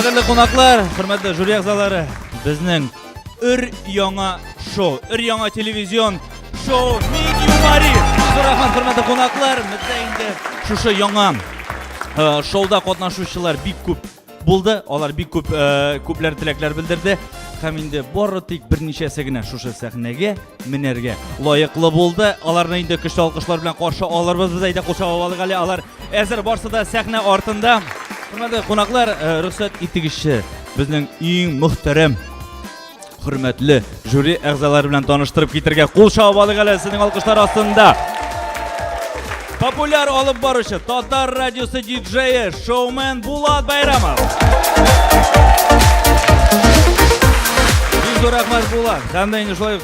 Хөрмәтле кунаклар, хөрмәтле жюри әгъзалары, безнең өр яңа шоу, өр яңа телевизион шоу Медиум Мари. Рәхмәт, хөрмәтле кунаклар, бездә инде шушы яңа шоуда катнашучылар бик күп Булды, алар бик күп э, күпләр теләкләр белдерде һәм инде бары тик берничәсе генә шушы сәхнәгә менәргә лаеклы булды. Аларны инде көчле алкышлар белән каршы алырбыз без әйдә куша алыйк әле. Алар әзер барсы да сәхнә артында. Хөрмәтле кунаклар, э, рөхсәт итегезче, безнең иң мөхтәрәм Хөрмәтле жюри әгъзалары белән таныштырып китергә кул чабып алыйк әле сезнең алкышлар астында. Популяр алып баручы Татар радиосы диджее, шоумен Булат Байрамов. Бик рәхмәт Булат. Һәм дә инде шулай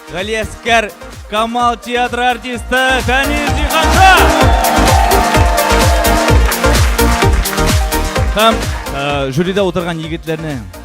Галиәскәр Камал театр артисты Фәнис Зиханша. Һәм э, жюрида утырган егетләрне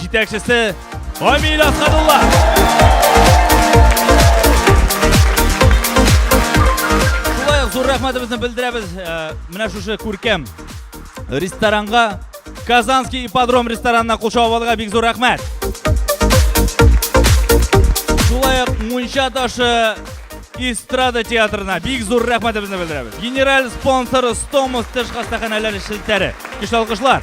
Җитәкчесе Амиль Асхадулла. Шулай ук зур рәхмәтебезне белдерәбез э, менә шушы күркәм ресторанга Казанский ипподром ресторанына кул чабып бик зур рәхмәт. Шулай ук Мунча ташы эстрада театрына бик зур рәхмәтебезне белдерәбез. Генераль спонсоры Стомус тыш хастаханәләре шелтәре. Көчле алкышлар.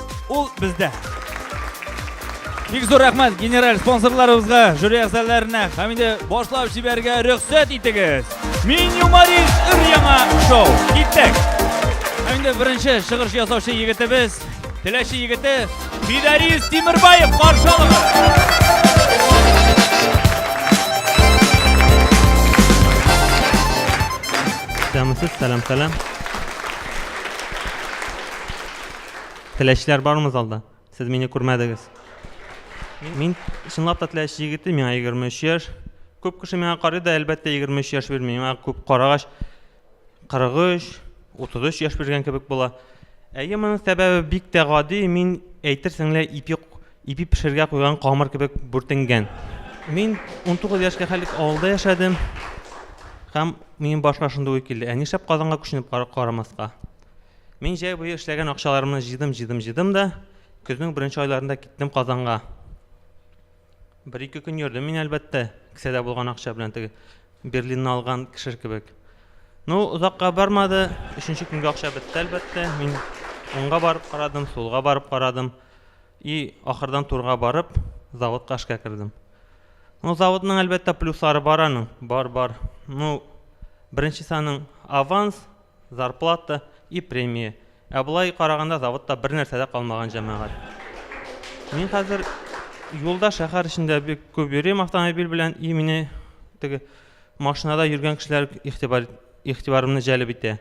Ул бездә. Бик зур рәхмәт генераль спонсорларыбызга, жюри әгъзаларына һәм инде башлап җибәрергә рөхсәт итегез. Мин юморист өр яңа шоу. Киттек. Һәм инде беренче чыгыш ясаучы егетебез, Теләче егете Фидарис Тимербаев каршы алыгыз. Исәнмесез, сәлам, сәлам. Теләчләр бармы залда? Сез мине күрмәдегез. Мин чынлап та теләч егете, миңа 23 яшь. Күп кеше миңа карый да, әлбәттә, 23 яшь бирми. Миңа күп карагач 43, 33 яшь биргән кебек була. Әйе, моның сәбәбе бик тә гади, мин әйтерсең лә ипи ипи пешергә куйган камыр кебек бүртенгән. Мин 19 яшькә хәлек авылда яшәдем. Һәм минем башка шундый уй килде. Ә нишләп Казанга күченеп карамаска? Мин җәй буе эшләгән акчаларымны җыйдым, җыйдым, җыйдым да, көзнең беренче айларында киттем Казанга. Бер-ике көн йөрдем мин, әлбәттә, кесәдә булган акча белән теге Берлинны алган кеше кебек. Ну, озакка бармады, өченче көнгә акча бетте, әлбәттә. Мин уңга барып карадым, сулга барып карадым. И, ахырдан турга барып, заводка эшкә кердем. Ну, заводның, әлбәттә, плюслары бар аның, бар, бар. Ну, беренче саның аванс, зарплата и премия. Ә болай караганда заводта бер нәрсә дә калмаган җәмәгать. Мин хәзер юлда шәһәр эчендә бик күп йөрим автомобиль белән и мине теге машинада йөргән кешеләр игътибар игътибарымны җәлеп итә.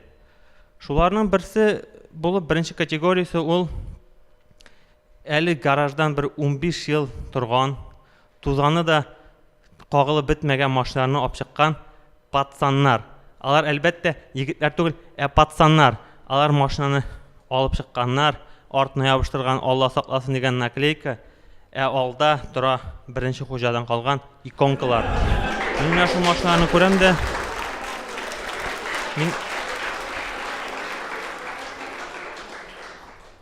Шуларның берсе булып беренче категориясе ул әле гараждан бер 15 ел торган Тузаны да кагылып бетмәгән машиналарны апчыккан пацаннар. Алар, әлбәттә, егетләр түгел, ә пацаннар. Алар машинаны алып чыкканнар, артына ябыштырган Алла сакласын дигән наклейка, ә алда тора беренче хуҗадан калган иконкалар. Мин менә шул машиналарны күрәм дә, мин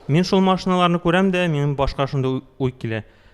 Мин шул машиналарны күрәм дә, минем башка шундый уй килә.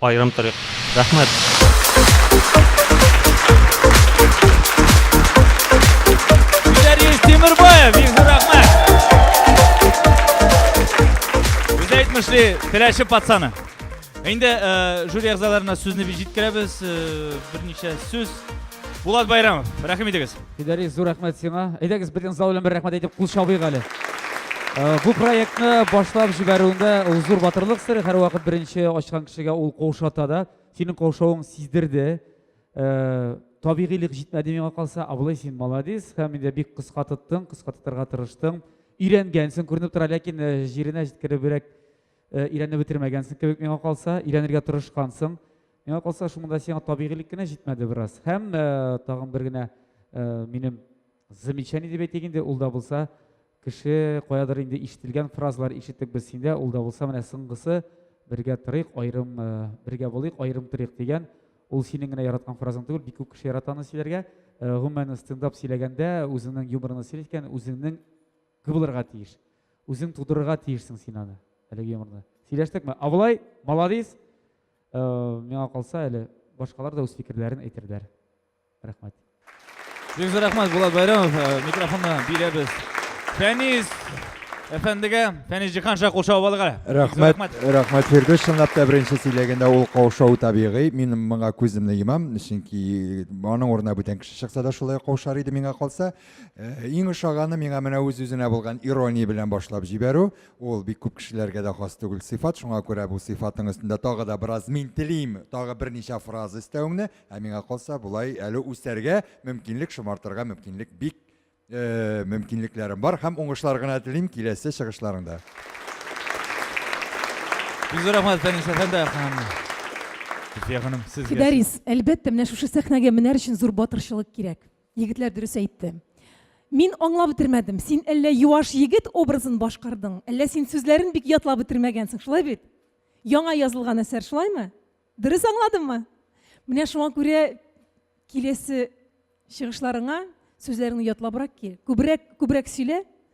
Аерым торыйк. Теләче пацаны. Инде э, жюри әгъзаларына сүзне җиткерәбез. Э, берничә сүз. Булат Байрамов, рәхим итегез. Фидарис, зур рәхмәт сиңа. Әйдәгез, бөтен зал белән бер рәхмәт әйтеп кул чабыйк әле. Э, бу проектны башлап җибәрүендә ул зур батырлык сыры, һәрвакыт беренче ачкан кешегә ул каушата да. Синең каушавың сиздерде. Э, табигыйлык җитмәде миңа калса, абылай син молодец һәм инде бик кыска тоттың, кыска тотарга тырыштың. Өйрәнгәнсең, күренеп тора, ләкин э, җиренә җиткеребрәк өйрәнеп бетермәгәнсең кебек миңа калса, өйрәнергә тырышкансың. Миңа калса, шуның да сиңа табигыйлек кенә җитмәде бераз. Һәм э, тагын бер генә э, минем замечание дип әйтик инде, ул да булса кеше каядыр инде ишетелгән фразалар ишеттек без синдә, ул да булса менә соңгысы бергә торыйк, айрым э, бергә булыйк, айрым торыйк дигән. Ул синең генә яраткан фразаң түгел, бик күп кеше яратаны сөйләргә. Э, гомумән стендап сөйләгәндә үзеңнең юморыңны сөйләткән, үзеңнең кыбылырга тиеш. Үзең тудырырга тиешсең син аны, әлеге юморны. Сөйләштекме? Абылай, молодец. Э, миңа калса әле башкалар да үз фикерләрен әйтерләр. Рәхмәт. Бик зур рәхмәт Булат Байрамов. Э, микрофонны бирәбез. Фәниз әфәндегә, Фәниз Җихан ша кул шау алга. Рәхмәт, рәхмәт Фирдүс, чынлап та беренче сөйләгәндә ул каушау табигый. Мин моңа күземне йомам, чөнки аның урынына бүтән кеше чыкса да шулай каушар иде миңа калса. Э, иң ошаганы миңа менә үз-үзенә булган ирония белән башлап җибәрү. Ул бик күп кешеләргә дә хас түгел сыйфат, шуңа күрә бу сыйфатның өстендә тагы да бераз мин телим, тагы берничә фраза өстәвеңне, ә миңа калса, болай әле үсәргә мөмкинлек, шомартырга мөмкинлек бик мөмкинлекләрем бар һәм уңышлар гына телим киләсе чыгышларыңда. Бик зур рәхмәт, Фәнис әфәнде һәм Зөлфия ханым, сезгә. Фидарис, әлбәттә, менә шушы сәхнәгә менәр өчен зур батырчылык кирәк. Егетләр дөрес әйтте. Мин аңлап бетермәдем. Син әллә юаш егет образын башкардың, әллә син сүзләрен бик ятлап бетермәгәнсең, шулай бит? Яңа язылган әсәр, шулаймы? Дөрес аңладыммы? Менә шуңа күрә киләсе чыгышларыңа сүзләреңне ятлабрак кил. Күбрәк, күбрәк сөйлә.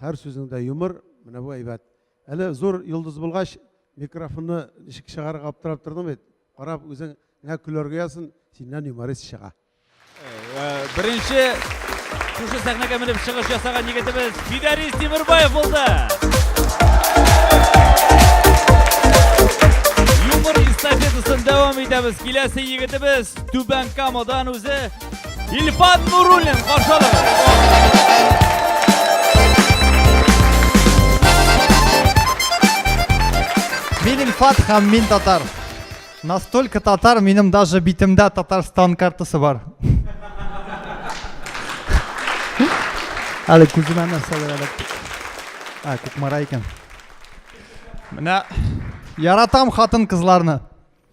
Хәр сүзеңдә юмор, менә бу әйбәт. Әле зур йолдыз булгач, микрофонны ничек чыгарырга аптырап тордың бит. Карап үзең нә көләргә язсын, синнән юморист чыга. Беренче шушы сәхнәгә менеп чыгыш ясаган егетебез Фидарис Тимербаев булды. Юмор эстафетасын дәвам итәбез. Киләсе егетебез Түбән Камадан үзе Ильфат Нуруллин каршы Мин Ильфат һәм мин татар. Настолько татар, минем даже битемдә Татарстан картасы бар. Әле күземә нәрсәләр әле. А, күкмара икән. Менә яратам хатын-кызларны.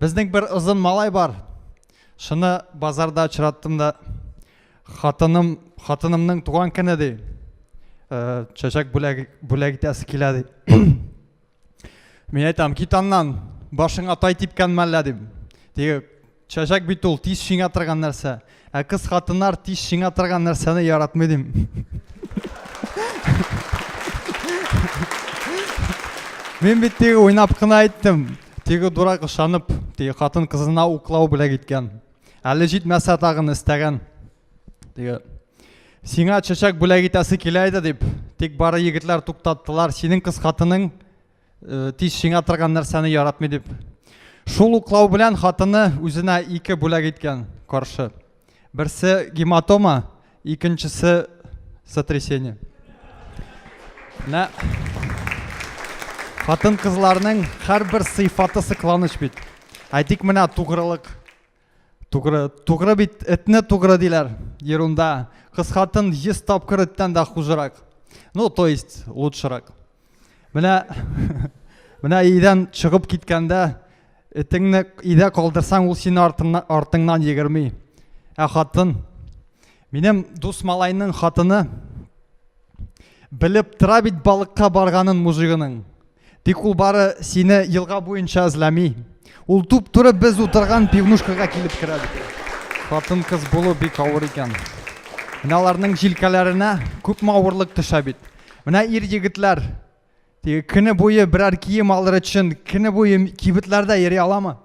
Безнең бер озын малай бар. Шуны базарда очраттым да хатыным, хатынымның туган көне ди. Э, чәчәк бүләк, бүләк итәсе килә ди. Мин әйтәм, кит аннан, башыңа тай типкән мәллә дим. Теге чәчәк бит ул, тиз шиңә торган нәрсә. Ә кыз хатыннар тиз шиңа торган нәрсәне яратмый дим. Мин бит теге уйнап кына әйттем. Теге дурак ышанып, теге хатын кызына уклау белән киткән. Әле җитмәсә тагын истәгән. Теге Сиңа чәчәк бүләк итәсе килә иде дип, тик бары егетләр туктаттылар. Синең кыз хатының Э, тиз шиңа торган нәрсәне яратмый дип шул уклау белән хатыны үзенә ике бүләк иткән каршы берсе гематома икенчесе сотрясение менә хатын кызларның һәрбер сыйфаты сыкланыч бит әйтик менә тугрылык Тугры, тугры бит, этне тугры диләр. Ерунда. Кыскатын 100 тапкыр эттән дә хужырак. Ну, то есть, лучшырак. Менә менә идән чыгып киткәндә этеңне идә калдырсаң, ул сине артыңнан артыңнан егерми. Ә хатын минем дус малайның хатыны белеп тора бит балыкка барганын мужигының. Тик ул бары сине елга буенча эзләми. Ул туп-туры без утырган пивнушкага килеп керә бит. Хатын-кыз булу бик авыр икән. Менә аларның җилкәләренә күпме авырлык төшә бит. Менә ир егетләр теге көне буе берәр кием алыр өчен көне буе кибетләрдә йөри аламы?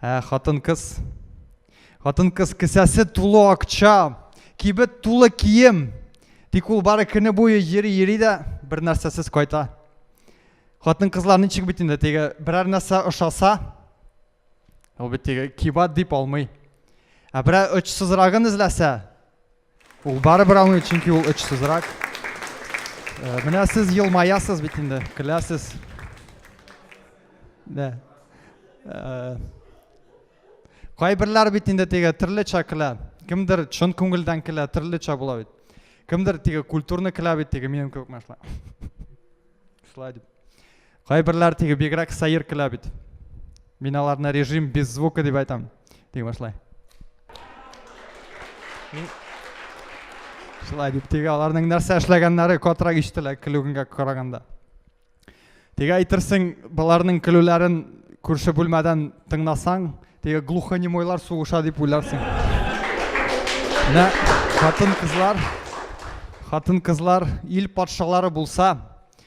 Ә хатын-кыз Хатын-кыз кесәсе тулы акча, кибет тулы кием. Тик ул бары көне буе йөри-йөри дә бер нәрсәсез кайта. Хатын-кызлар ничек бит инде теге берәр нәрсә ошаса, ул бит теге кибат дип алмый. Ә берәр очсызрагын эзләсә, Ул барыбер аңлый, чөнки ул очсызрак. Э, менә сез елмаясыз бит инде, көләсез. Дә. Э, кайберләр бит инде теге төрлечә көлә. Кемдер чын күңелдән көлә, төрлечә була бит. Кемдер теге культурны көлә бит теге минем кебек мәшла. Шулай дип. Кайберләр теге бигрәк сәер көлә бит. Мин аларны режим без звука дип айтам. Дип башлай. Мин Шулай дип теге аларның нәрсә эшләгәннәре котрак ишетелә көлүгенгә караганда. Теге әйтерсең, баларның көлүләрен күрше бүлмәдән тыңласаң, теге глухонемойлар сугыша дип уйларсың. Менә хатын-кызлар, хатын-кызлар ил патшалары булса,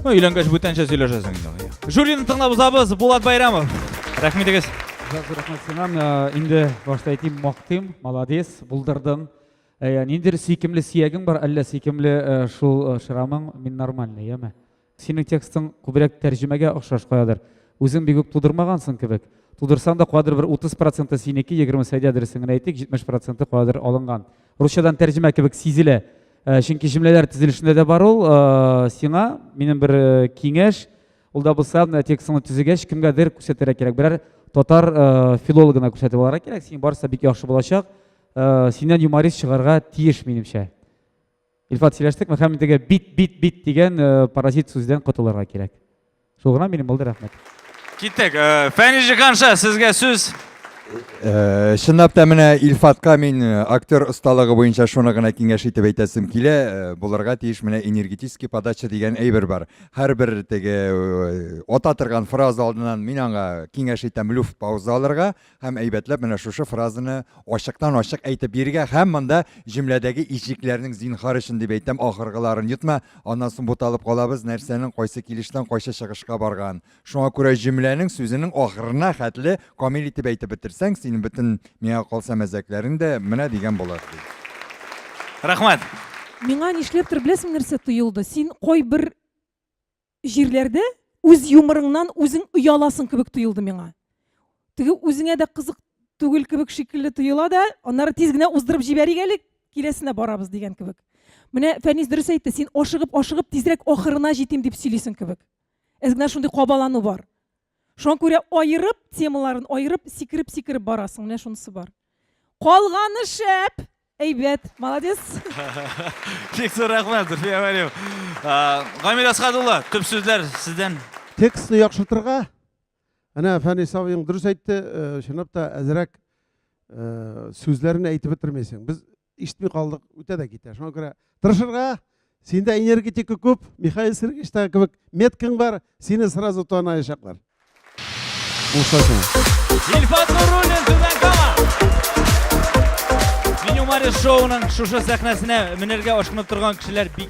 Ну, өйләнгәч бүтәнчә сөйләшәсең инде. Жюрины тыңлап узабыз, Булат Байрамов. Рәхмәт егез. Рәхмәт синам. Э, инде башта әйтим, мактыйм, молодец, булдырдың. Э, Ниндер сөйкемле сиягең бар, әллә сөйкемле э, шул шрамың, мин нормальный, яме. Синең текстың күбрәк тәрҗемәгә охшаш каядыр. Үзең бик үк тудырмагансың кебек. Тудырсаң да кадер бер 30% синеке, 20 сәйдә дөресен генә әйтик, 70% кадер алынган. Русчадан тәрҗемә кебек сизелә. Э, чөнки җөмләләр төзелешендә дә бар ул э, сиңа минем бер э, киңәш ул да булса менә текстыңны төзегәч кемгәдер күрсәтергә кирәк берәр татар филологына күрсәтеп алырга кирәк синең барысы бик яхшы булачак синнән юморист чыгарга тиеш минемчә илфат сөйләштекме һәм теге бит бит бит дигән паразит сүздән котылырга кирәк Сугран минем булды, рәхмәт. Киттек. Э, Фәнижи ханша, сезгә сүз. Э, чынлап та менә Илфатка мин э, актер осталыгы буенча шуны гына киңәш итеп әйтәсем килә. Э, булырга тиеш менә энергетический подача дигән әйбер бар. Һәрбер теге ата торган фраза алдыннан мин аңа киңәш итәм люфт пауза алырга, Һәм әйбәтләп менә шушы фразаны ачыктан-ачык әйтеп бирергә һәм монда җөмләдәге ишекләрнең зинхар өчен дип әйтәм, ахыргыларын йотма, аннан соң буталып калабыз, нәрсәнең кайсы килештән кайсы чыгышка барган. Шуңа күрә җөмләнең сүзенең ахырына хәтле камил итеп әйтеп бетерсәң, синең бөтен, миңа калса, мәзәкләрең дә менә дигән булыр, ди. Рәхмәт! Миңа нишләптер, беләсеңме нәрсә тоелды? Син кайбер. җирләрдә үз юморыңнан үзең ояласың кебек тоелды миңа. Теге үзеңә дә кызык түгел кебек шикелле тоела да, аннары тиз генә уздырып җибәрик әле, киләсенә барабыз дигән кебек. Менә Фәнис дөрес әйтте, син ашыгып-ашыгып тизрәк ахырына җитим дип сөйлисең кебек. Әз генә шундый кабалану бар. Шуңа күрә аерып темаларын аерып сикереп-сикереп барасың, менә шунысы бар. Калганы шәп, әйбәт, молодец. Бик зур рәхмәт, Зульфия Вәлиева. Гамил Асхат улы, төп сүзләр сездән. Текстны яхшыртырга, әнә Фәнис абыең дөрес әйтте, чынлап та әзрәк сүзләрен әйтеп бетермисең. Без ишетми калдык үтә дә китә шуңа күрә тырышырга синдә энергетика күп михаил сергеевичта кебек меткаң бар сине сразу таныячаклар Ильфат Нуруллин Түбән Кама Меню Мари шоуның шушы сәхнәсенә менәргә ашкынып торган кешеләр бик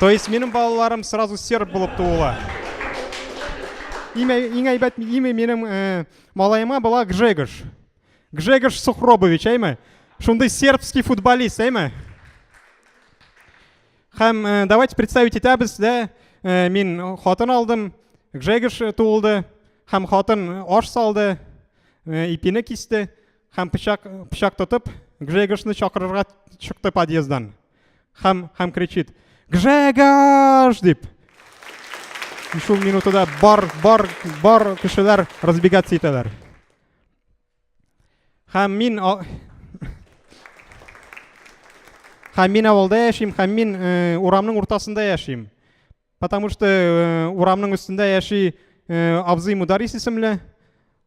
То есть минем балаларым сразу серб булып туула. Имя, иң әйбәт имя минем э, малаема была Гжегош. Гжегош Сухробович, әйме? Шундый сербский футболист, әйме? Хәм, э, давайте представить итәбез, да, э, мин хатын алдым, Гжегош э, туылды, хәм хатын аш салды, э, ипине кисте, Хәм пычак пычак тотып, Гжегошны чакырырга чыкты подъездан. Хәм хәм кричит: "Гжегош!" дип. Шул минутыда бар бар бар кешеләр разбегаться итәләр. Хәм мин Хәм мин авылда яшим, хәм мин э, урамның уртасында яшим. Потому что э, урамның өстендә яши э, абзый Мударис исемле.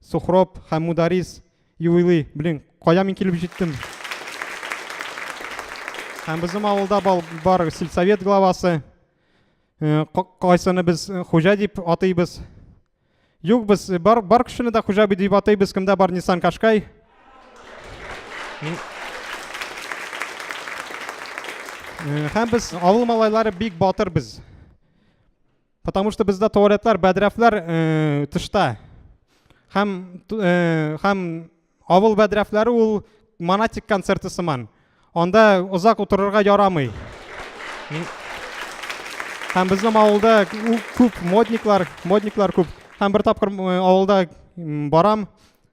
Сухроб һәм Мударис юбилей. Блин, кая мин килеп җиттем? Һәм безнең авылда бар сельсовет главасы. Э, кайсыны без э, хуҗа дип атыйбыз? Юк, без э, бар, бар кешене дә хуҗа дип атыйбыз, кемдә бар Nissan Qashqai. Һәм без авыл малайлары бик батыр без. Потому что бездә туалетлар, бәдрәфләр э, тышта. Һәм э, һәм авыл бәдрәфләре ул монатик концерты сыман. Анда озак утырырга ярамый. Һәм безнең авылда күп модниклар, модниклар күп. Һәм бер тапкыр э, авылда барам,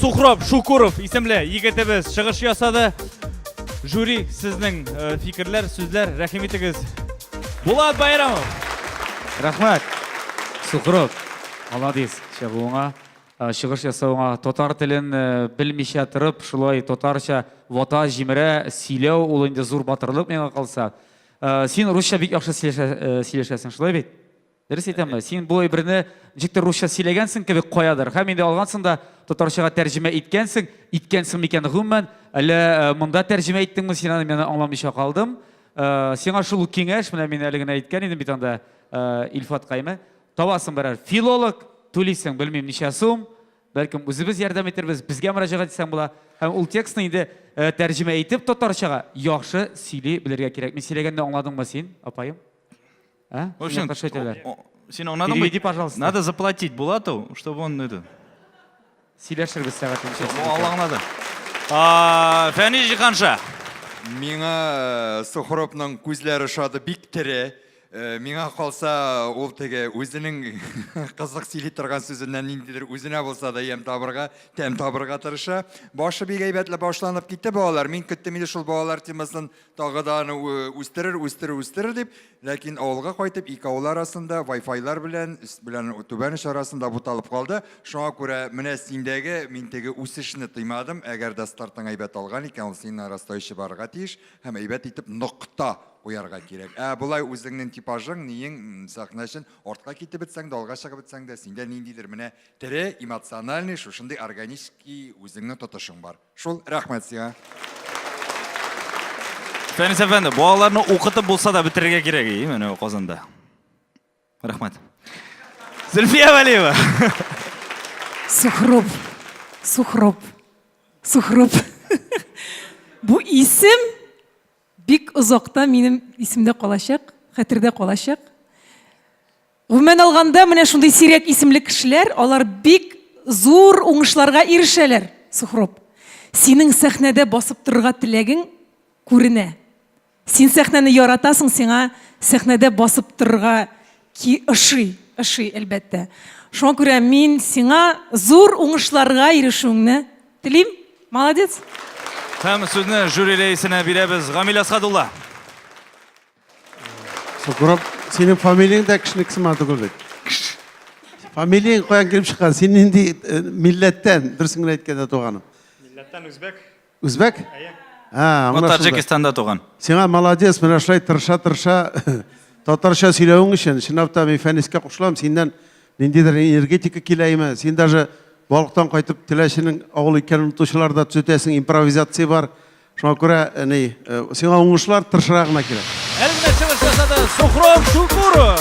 Сухров Шукуров исемле егетебез чыгыш ясады. Жюри сезнең э, фикерләр, сүзләр, рәхим итегез. Булат Байрамов. Рәхмәт. Сухров, молодец, чыгуыңа, э, чыгыш ясауыңа, татар телен э, белмичә торып, шулай татарча вата җимерә сөйләү ул инде зур батырлык миңа калса. Э, син русча бик яхшы э, сөйләшәсең шулай бит дөрес әйтәмме син бу әйберне ничектер русча сөйләгәнсең кебек каядыр һәм инде алгансың да татарчага тәрҗемә иткәнсең иткәнсең микән гомумән әллә э, монда тәрҗемә иттеңме син аны мен аңламыйча калдым сиңа шул киңәш менә мин әле генә әйткән идем бит анда илфат кайме табасың берәр филолог түлисең белмим ничә сум Бәлкем үзебез ярдәм итәрбез, безгә мөрәҗәгать итсәң була. Һәм ул текстны инде тәрҗемә итеп татарчага яхшы сөйли белергә кирәк. Мин сөйләгәнне аңладыңмы син, апаем? Ә? В общем, син аңладыңмы? Переведи, пожалуйста. Надо заплатить Булату, чтобы он это... Сөйләшербез сәгатен. Алла аңлады. Фәнис Җиһанша. Миңа Сухоровның күзләре шады бик тере. Миңа калса, ул теге үзенең кызык сөйли торган сүзеннән ниндидер үзенә булса да ямь табырга, тәм табырга тырыша. Башы бик әйбәтле башланып китте балалар. Мин көттем иде шул балалар темасын тагы да аны үстерер, үстерер, үстерер дип. Ләкин авылга кайтып, ике авыл арасында Wi-Fi-лар белән, өст белән түбән оч арасында буталып калды. Шуңа күрә менә синдәге мин теге үсешне тыймадым. Әгәр дә стартың әйбәт алган икән, ул синең арасында очып барырга тиеш һәм әйбәт итеп нокта куярга кирәк. Ә болай үзеңнең типажың, ниең, сәхнә өчен артка китеп бетсәң дә, алга чыгып бетсәң дә, синдә ниндидер менә тере, эмоциональный, шушындый органический үзеңнең тотышың бар. Шул, рәхмәт сиңа. Фәнис әфәнде, балаларны укытып булса да бетерергә кирәк, и, менә Казанда. Рәхмәт. Зөлфия Вәлиева. Сухруб. Сухруб. Сухруб. Бу исем бик озакта минем исемдә калачак, хәтердә калачак. Гомумән алганда, менә шундый сирәк исемле кешеләр, алар бик зур уңышларга ирешәләр, Сухруб. Синең сәхнәдә басып торырга теләгең күренә. Син сәхнәне яратасың, сиңа сәхнәдә басып торырга ки ошый, ошый, әлбәттә. Шуңа күрә мин сиңа зур уңышларга ирешүеңне телим. Молодец! Һәм сүзне жюри рәисенә бирәбез. Гамил Әсгадулла. Сукуров, синең фамилияң дә кешенеке сыман түгел бит. Фамилияң каян килеп чыккан? Син нинди э, милләттән? Дөресен генә әйткәндә, туганым. Милләттән үзбәк. Үзбәк? Ә, Бу Таҗикстанда туган. Сиңа молодец, менә шулай тырыша-тырыша татарча сөйләвең өчен, чынлап та мин Фәнискә кушылам, синнән ниндидер энергетика килә име? Син даже балыктан кайтып теләченең авыл икәнен онытучылар да төзәтәсең, импровизация бар. Шуңа күрә, әни, э, сиңа уңышлар, тырышырга гына кирәк. Әлмә чыгыш ясады Сухром Шукуров.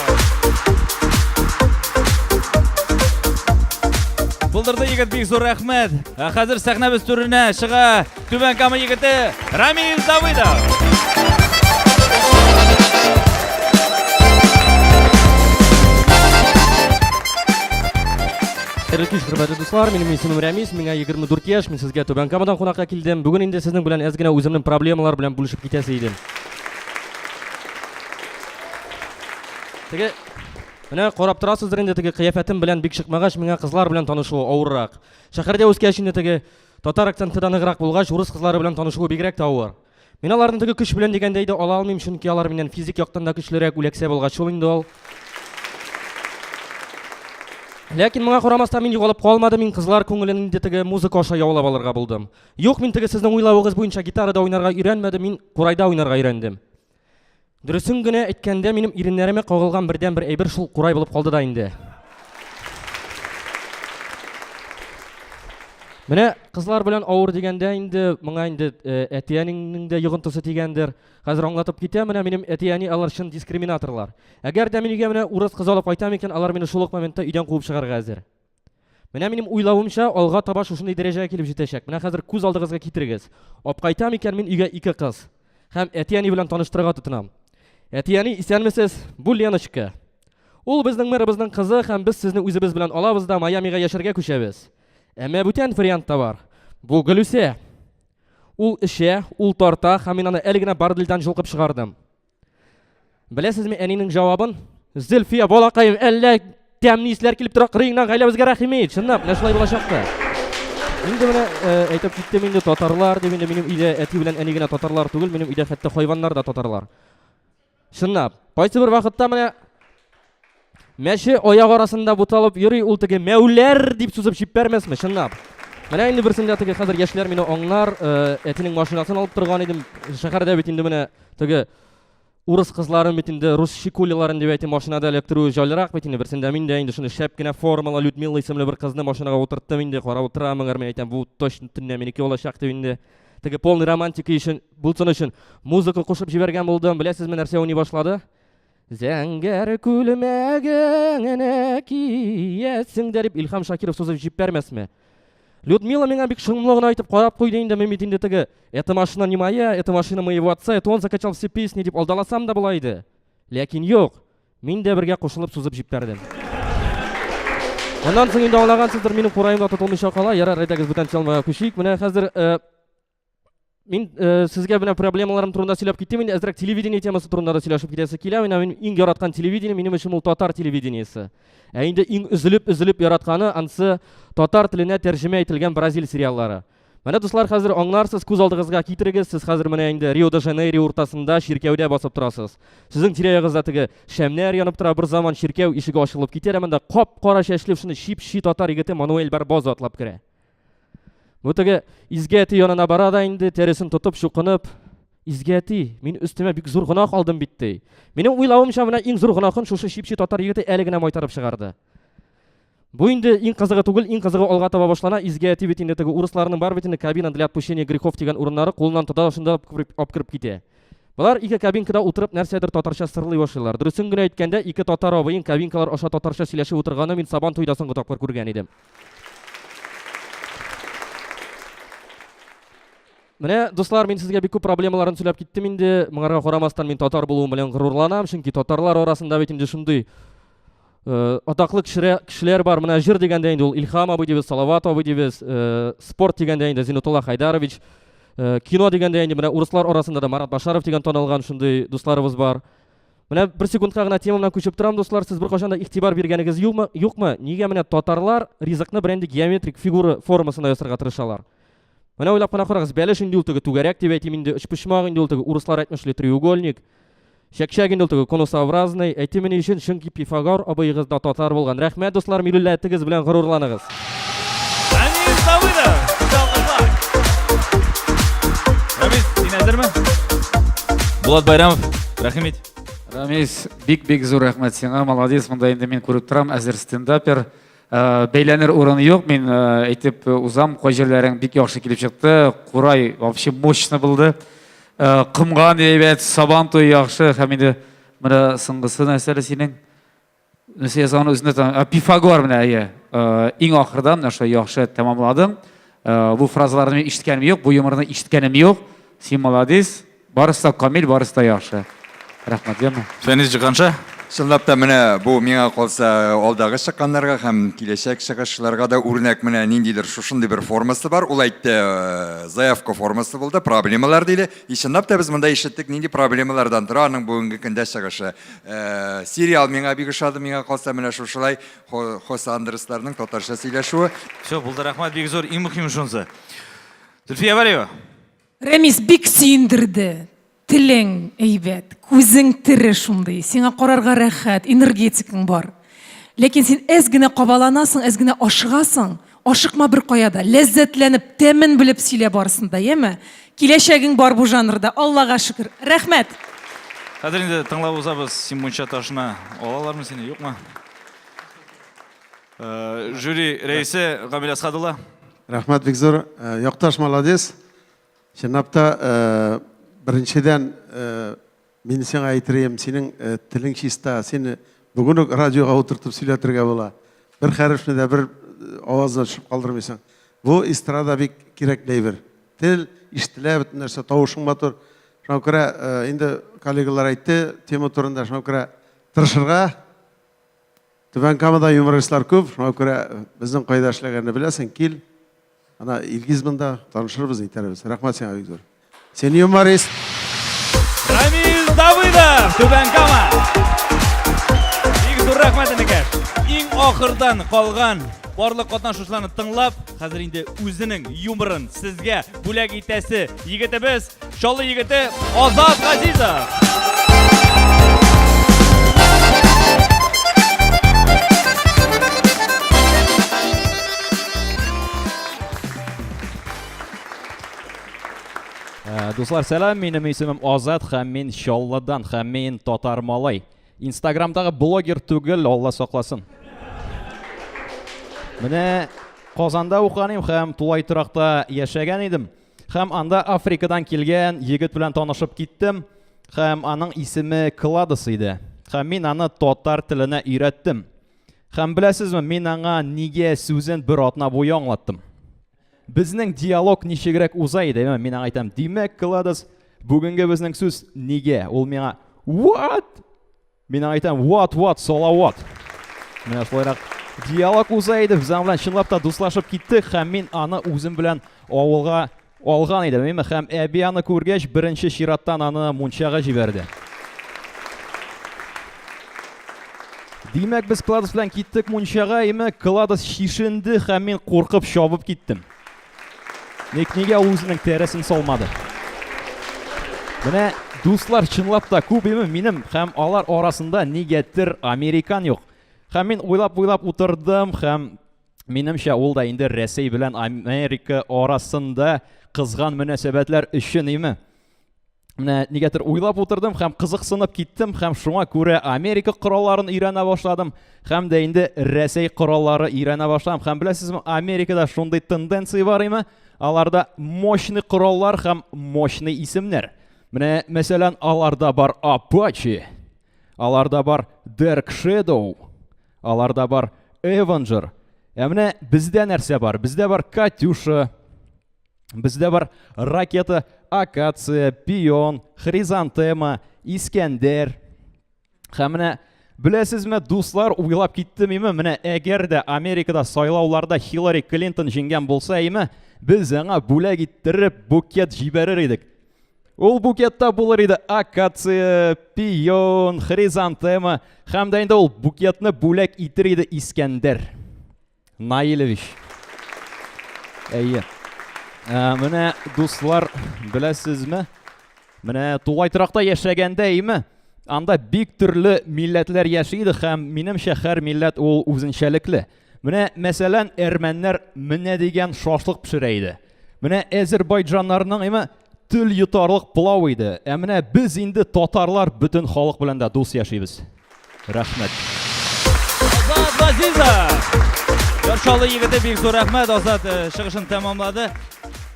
Булдырды егет, бик зур рәхмәт. Ә хәзер сәхнәбез түренә чыга Түбән Кама егете Рамил Давыдов. Хәерле кич, хөрмәтле дуслар. Минем исемем Рәмис, миңа 24 яшь. Мин сезгә Түбән Камадан кунакка килдем. Бүген инде сезнең белән әз генә үземнең проблемалар белән бүлешеп китәсе идем. Теге Менә карап торасыздыр инде теге кыяфәтем белән бик чыкмагач, миңа кызлар белән танышу авыррак. Шәһәрдә үскәч инде теге татар акценты да ныграк булгач, урыс кызлары белән танышуы бигрәк тә авыр. Мин аларны теге көч белән дигәндәй дә ала алмыйм, чөнки алар миннән физик яктан да көчлерәк, үләксә булгач шул инде ул. Ләкин моңа карамастан мин югалып калмадым, мин кызлар күңелен инде теге музыка аша яулап алырга булдым. Юк, мин теге сезнең уйлавыгыз буенча гитарада уйнарга өйрәнмәдем, мин курайда уйнарга өйрәндем. Дөресен генә әйткәндә, минем иреннәремә кагылган бердән бер әйбер шул курай булып калды да инде. Менә кызлар белән авыр дигәндә инде моңа инде э, әтиәнеңнең дә йогынтысы дигәндер. Хәзер аңлатып китә, менә минем әтиәни алар чын дискриминаторлар. Әгәр дә мин өйгә менә урыс кызы алып кайтам икән, алар мине шул ук моментта өйдән куып чыгарга әзер. Менә минем уйлавымча, алга таба шушындый дәрәҗәгә килеп җитәчәк. Менә хәзер күз алдыгызга китерегез. Апкайтам икән мин өйгә ике кыз. Һәм әти-әни белән таныштырырга тотынам. Әти-әни, исәнмесез? Бу Леночка. Ул безнең мэрыбызның кызы һәм без сезне үзебез белән алабыз да Майамига яшәргә күчәбез. Әмма бүтән вариант та бар. Бу Гөлүсә. Ул эчә, ул тарта һәм мин аны әле генә бар дилдән җолкып чыгардым. Беләсезме әнинең җавабын? Зөлфия балакаем, әллә тәмле исләр килеп тора кырыеңнан гаиләбезгә рәхим ит. Чынлап, менә шулай булачакты. Инде менә э, әйтеп киттем инде татарлар дип инде минем өйдә әти белән әни генә татарлар түгел, минем өйдә хәтта хайваннар да татарлар. Чынлап, кайсы бер вакытта менә Мәче аяк арасында буталып йөри ул теге мәүләр дип сузып җиппәрмәсме, чынлап. Менә инде берсендә теге хәзер яшьләр мине аңнар, э, әтинең машинасын алып торган идем. Шәһәрдә бит инде менә теге урыс кызларын бит инде рус шикулиларын дип әйтим машинада эләктерү җайлырак бит инде берсендә мин дә инде шуны шәп кенә формала Людмила исемле бер кызны машинага утырттым инде карап утырамын гәрме әйтәм бу точно төнлә минеке булачак дип инде теге полный романтика өчен булсын өчен музыка кушып җибәргән булдым беләсезме нәрсә уйный башлады Зәңгәр күлмәгеңне киясең дә, дип Илһам Шакиров сузып җиппәрмәсме? Людмила миңа бик шомлы гына итеп карап куйды инде, мин бит инде теге «Это машина не моя, это машина моего отца, это он закачал все песни» дип алдаласам да була иде. Ләкин юк, мин дә бергә кушылып сузып җиппәрдем. Аннан соң инде аңлагансыздыр, минем кураемда тотылмыйча кала, ярар, әйдәгез бүтән чалмага күчик. Менә хәзер э, Мин э, сезгә менә проблемаларым турында сөйләп киттем инде, әзрәк телевидение темасы турында да сөйләшеп китәсе килә. Менә мин иң яраткан телевидение минем өчен ул татар телевидениесе. Ә инде иң үзелеп үзелеп яратканы ансы татар теленә тәрҗемә ителгән бразил сериаллары. Менә дуслар, хәзер аңларсыз, күз алдыгызга китерегез, сез хәзер менә инде Рио-де-Жанейро уртасында чиркәүдә басып торасыз. Сезнең тирә-ягыгызда теге шәмнәр янып тора, бер заман чиркәү ишеге ачылып китә, ә монда кап-кара чәчле шуны чип-чи татар егете Мануэль Барбоза атлап керә. Бу теге изге әти янына бара да инде, тәресен тотып, чукынып, изге әти, мин өстемә бик зур гөнаһ алдым бит, ди. Минем уйлавымча, менә иң зур гөнаһын шушы чипчи татар егете әле генә майтарып чыгарды. Бу инде иң кызыгы түгел, иң кызыгы алга таба башлана. Изге әти бит инде теге урысларның бар бит инде кабина для отпущения грехов дигән урыннары кулыннан тота шунда апкырып китә. Болар ике кабинкада утырып нәрсәдер татарча сырлый башлыйлар. Дөресен генә әйткәндә, ике татар абыең кабинкалар аша татарча сөйләшеп утырганы мин Сабан туйда соңгы тапкыр күргән идем. Менә, дуслар, мин сезгә бик күп проблемаларын сөйләп киттем инде. Моңарга карамастан мин татар булуым белән горурланам, чөнки татарлар арасында бит инде шундый э, атаклы кешеләр бар. Менә җыр дигәндә инде ул Илхам абый дибез, Салават абый дибез, э, спорт дигәндә инде Зинутулла Хайдарович, э, кино дигәндә инде менә урыслар арасында да Марат Башаров дигән танылган шундый дусларыбыз бар. Менә бер секундка гына темамнан күчеп торам, дуслар, сез бер кашанда игътибар биргәнегез юкмы? Юкмы? Нигә менә татарлар ризыкны бер инде геометрик фигура формасында ясарга тырышалар? Менә уйлап кына карагыз, бәлеш инде ул теге түгәрәк дип әйтим инде, өчпочмак инде ул теге урыслар әйтмешли треугольник. Чәкчәк инде ул теге конусообразный. Әйтимени өчен, чөнки Пифагор абыегыз да татар булган. Рәхмәт, дуслар, милләтегез белән горурланыгыз. Булат Байрамов, рәхим ит. Рамис, бик-бик зур рәхмәт сиңа, молодец, монда инде мин күреп торам, әзер стендапер. Э, бәйләнер урын юк, мин э, әйтеп э, узам, кай җирләрең бик яхшы килеп чыкты, курай вообще мощно булды. Кымган әйбәт, сабан туй яхшы, һәм инде менә соңгысы нәрсәле синең? Сезон үзне Пифагор менә әйе. Иң ахырда менә шулай яхшы тәмамладым. Бу фразаларны мин ишеткәнем юк, бу юморны ишеткәнем юк. Син молодец. Барысы да камил, барысы да яхшы. Рәхмәт, яме. Фәнис Җиһанша, чынлап та менә бу миңа калса алдагы чыкканнарга һәм киләчәк чыгышларга да үрнәк менә ниндидер шушындый бер формасы бар. Ул әйтте, заявка формасы булды, проблемалар диде. И чынлап та без монда ишеттек нинди проблемалардан тора аның бүгенге көндә чыгышы. Э, сериал миңа бик ошады миңа калса менә шушылай хосе андресларның татарча сөйләшүе все булды рәхмәт бик зур иң мөһиме шунысы зөлфия вәлиева рәмис бик сөендерде телең әйбәт күзең тере шундый сиңа карарга рәхәт энергетикаң бар ләкин син әз генә кабаланасың әз генә ашыгасың Ашыкма беркая да, ләззәтләнеп, тәмен белеп сөйлә барысын да, яме? Киләчәгең бар бу жанрда, Аллага шөкер. Рәхмәт! Хәзер инде тыңлап узабыз, син мунча ташына алалармы сине, юкмы? Э, жюри рәисе Гамил Асхат улы. Рәхмәт бик зур. Э, якташ молодец. Чынлап та э, беренчедән Мин сиңа әйтерем, синең э, телең чиста, сине бүген үк радиога утыртып сөйләтергә була. Бер хәрефне дә бер э, авазына төшеп калдырмыйсың. Бу эстрада бик кирәк әйбер. Тел ишетелә, бөтен нәрсә тавышың матур. Шуңа күрә э, инде коллегалар әйтте, тема турында шуңа күрә тырышырга, Түбән Камада юмористлар күп, шуңа күрә безнең кайда эшләгәнне беләсең, кил. Ана Илгиз монда, танышырбыз, әйтәрбез. Рәхмәт сиңа бик зур. Син юморист. Рамил Давыдов, Түбән Кама. Бик зур рәхмәт энекәш. Иң ахырдан калган барлык катнашучыларны тыңлап, хәзер инде үзенең юморын сезгә бүләк итәсе егетебез Чаллы егете Азат Газизов. Э, дуслар, сәлам, минем исемем Азат һәм мин Чаллыдан һәм мин татар малай. Инстаграмдагы блогер түгел, Алла сакласын. Менә Казанда укыганым һәм тулай торакта яшәгән идем. Хәм анда Африкадан килгән егет белән танышып киттем. Хәм аның исеме Кладос иде. Хәм мин аны татар теленә өйрәттем. Хәм беләсезме, мин аңа нигә сүзен бер атна буе аңлаттым. Безнең диалог ничегрәк уза иде, мин аңа әйтәм, димәк, Кладос, бүгенге безнең сүз нигә? Ул миңа, what? Мин айтам, what, what, салават. Менә шулайрак диалог уза иде. Без белән чынлап та дуслашып киттек һәм мин аны үзем белән авылга алган идем. Мин һәм әби аны күргәч, беренче чираттан аны мунчага җибәрде. Димәк, без Кладос белән киттек мунчага, име Кладос шишенде һәм мин куркып чабып киттем. Ник нигә ул үзенең тәресен салмады? Менә дуслар чынлап та күп име минем һәм алар арасында нигәдер американ юк. Һәм мин уйлап-уйлап утырдым һәм минемчә ул да инде Рәсәй белән Америка арасында кызган мөнәсәбәтләр өчен име? Менә нигәдер уйлап утырдым һәм кызыксынып киттем һәм шуңа күрә Америка коралларын өйрәнә башладым һәм дә инде Рәсәй кораллары өйрәнә башладым. Һәм беләсезме, Америкада шундый тенденция бар име? Аларда мощный кораллар һәм мощный исемнәр. Менә, мәсәлән, аларда бар Apache, аларда бар Dark Shadow, аларда бар Avenger. Ә менә бездә нәрсә бар? Бездә бар Катюша, Бездә бар ракета, акация, пион, хризантема, искәндәр. Һәм менә Беләсезме, дуслар, уйлап киттем име, менә әгәр дә Америкада сайлауларда Хиллари Клинтон җиңгән булса име, без аңа бүләк иттереп букет җибәрер идек. Ул букетта булыр иде акация, пион, хризантема, һәм дә инде ул букетны бүләк итер иде Искәндәр. Наилевич. Әйе. Ә, менә дуслар, беләсезме? Менә тулай торакта яшәгәндә, әйме? Анда бик төрле милләтләр яши иде һәм минем шәһәр милләт ул үзенчәлекле. Менә мәсәлән, әрмәннәр менә дигән шашлык пешерә иде. Менә әзербайҗаннарның, әйме, Тел йотарлык плау иде. Ә менә без инде татарлар бөтен халык белән дә дус яшибез. Рәхмәт. Азат Газиза. Яршалы егете бик зур рәхмәт Азат э, чыгышын тәмамлады.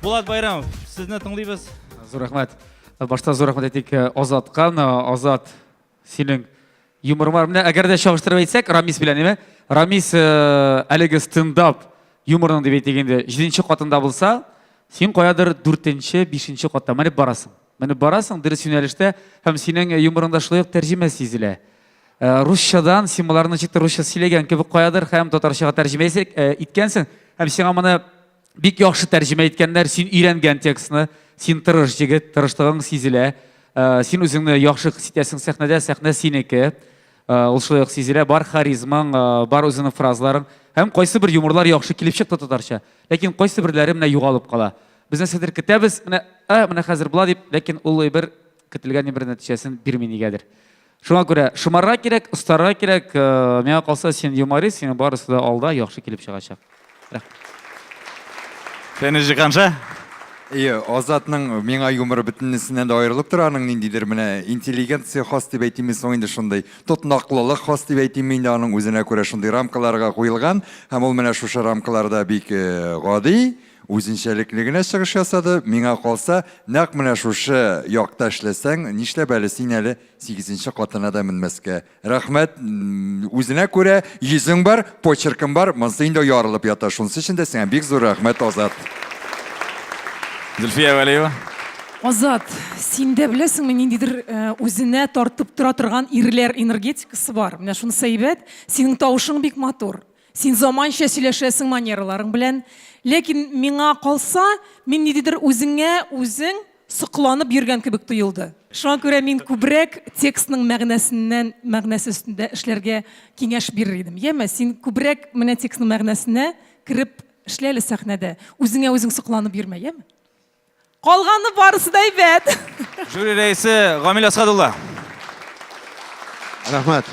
Булат Байрамов, сезне тыңлыйбыз. Зур рәхмәт. Башта зур рәхмәт әйтик э, Азатка. Азат Синең юморың бар. Менә әгәр дә чагыштырып әйтсәк, Рамис белән, әйме? Рамис э, әлеге стендап юморың дип әйтик инде, җиденче катында булса, син каядыр дүртенче, бишенче катта менеп барасың. Менеп барасың дөрес юнәлештә һәм синең юморыңда шулай ук тәрҗемә сизелә. Э, Русчадан син боларны ничектер русча сөйләгән кебек каядыр һәм татарчага тәрҗемә исә- э, иткәнсең һәм сиңа моны Бик яхшы тәрҗемә иткәннәр, син өйрәнгән текстны, син тырыш җегет, тырышлыгың сизелә. Э, син үзеңне яхшы хис итәсең сәхнәдә, сәхнә синеке. Э, ул шулай ук сизелә, бар харизмаң, э, бар үзеңнең фразаларың. Һәм кайсы бер юморлар яхшы килеп чыкты татарча. Ләкин кайсы берләре менә югалып кала. Без нәрсәдер көтәбез, менә, ә, менә хәзер була дип, ләкин ул бер Көтелгән ни бер нәтиҗәсен бирми нигәдер. Шуңа күрә шомарга кирәк, остарга кирәк. Э, миңа калса, син юморист, синең барысы да алда яхшы килеп чыгачак. Фәнис Җиһанша. Ие, Азатның миңа юморы бөтенесеннән дә аерылып тора, аның ниндидер менә интеллигенция хас дип әйтимме соң инде шундый, тотнаклылык хас дип әйтимме инде аның үзенә күрә шундый рамкаларга куелган, һәм ул менә шушы рамкаларда бик э, гади, Үзенчәлекле генә чыгыш ясады, миңа калса, нәкъ менә шушы якта эшләсәң, нишләп әле син әле сигезенче катына да менмәскә. Рәхмәт, үзенә күрә йөзең бар, почеркың бар, монсы инде ярылып ята, шунсы өчен дә сиңа бик зур рәхмәт, Азат. Зөлфия Вәлиева. Азат, син дә беләсеңме, ниндидер үзенә тартып тора торган ирләр энергетикасы бар. Менә шунысы әйбәт. Синең тавышың бик матур. Син заманча сөйләшәсең манераларың белән, ләкин миңа калса, мин ниндидер үзеңә үзең сокланып йөргән кебек тоелды. Шуңа күрә мин күбрәк текстның мәгънәсеннән, мәгънәсе өстендә эшләргә киңәш бирер идем. Яме, син күбрәк менә текстның мәгънәсенә кереп эшлә әле сәхнәдә, үзеңә үзең сокланып йөрмә, яме? Калганы барысы да әйбәт. Жюри рәисе Гамил Асхадулла. Рәхмәт.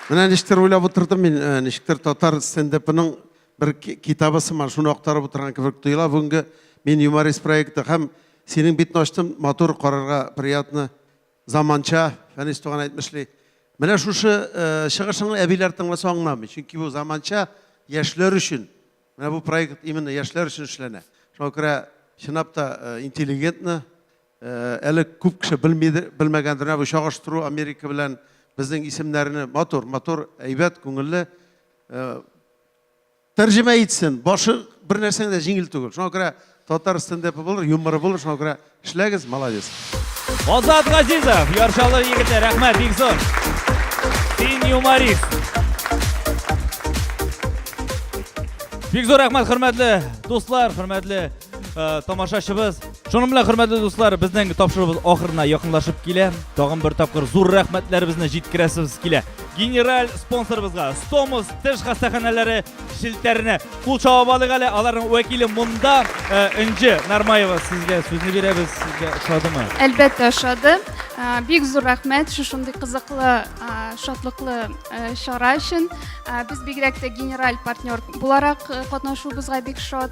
Менә ничектер уйлап утырдым мин, э, ничектер татар стендапының бер китабы сыман шуны актарып утырган кебек тоела. Бүгенге мин юморист проекты һәм синең битне ачтым, матур карарга приятно, заманча, Фәнис туган әйтмешли. Менә шушы э, чыгышыңны әбиләр тыңласа аңламый, чөнки бу заманча яшьләр өчен Менә бу проект именно яшьләр өчен эшләнә. Шуңа күрә чынлап та интеллигентны әле күп кеше белмидер, белмәгәндер. Менә бу чагыштыру Америка белән безнең исемнәрне матур, матур, әйбәт, күңелле тәрҗемә итсен. Башы бер нәрсәң дә җиңел түгел. Шуңа күрә Татар стендепы булыр, юморы булыр, шуңа күрә эшләгез, молодец. Азат Газизов, Яршалы егете, рәхмәт, бик зур. Син юморист. Бик зур рәхмәт, хөрмәтле дуслар, хөрмәтле Э, тамашачыбыз. Шуның белән хөрмәтле дуслар, безнең тапшыруыбыз ахырына якынлашып килә. Тагын бер тапкыр зур рәхмәтләребезне җиткерәсебез килә. Генераль спонсорыбызга Стомус теш хастаханәләре Челтәренә кул чабып алыйк әле. Аларның вәкиле монда. Э, Энҗе Нармаева, сезгә сүзне бирәбез. Сезгә ошадымы? Әлбәттә, ошады. Э, бик зур рәхмәт шушындый кызыклы, э, шатлыклы чара өчен. Без бигрәк тә генераль партнер буларак катнашуыбызга бик шат.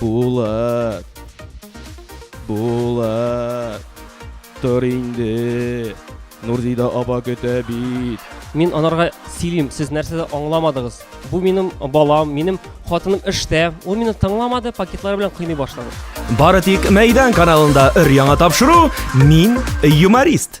Булат! Булат! Тор инде! Нурзидә аба көтә бит! Мин анарга сөйлим, сез нәрсә дә аңламадыгыз. Бу минем балам, минем хатыным эштә. Ул мине тыңламады, пакетлары белән кыйный башлады. Бары тик Мәйдан каналында өр-яңа тапшыру Мин юморист.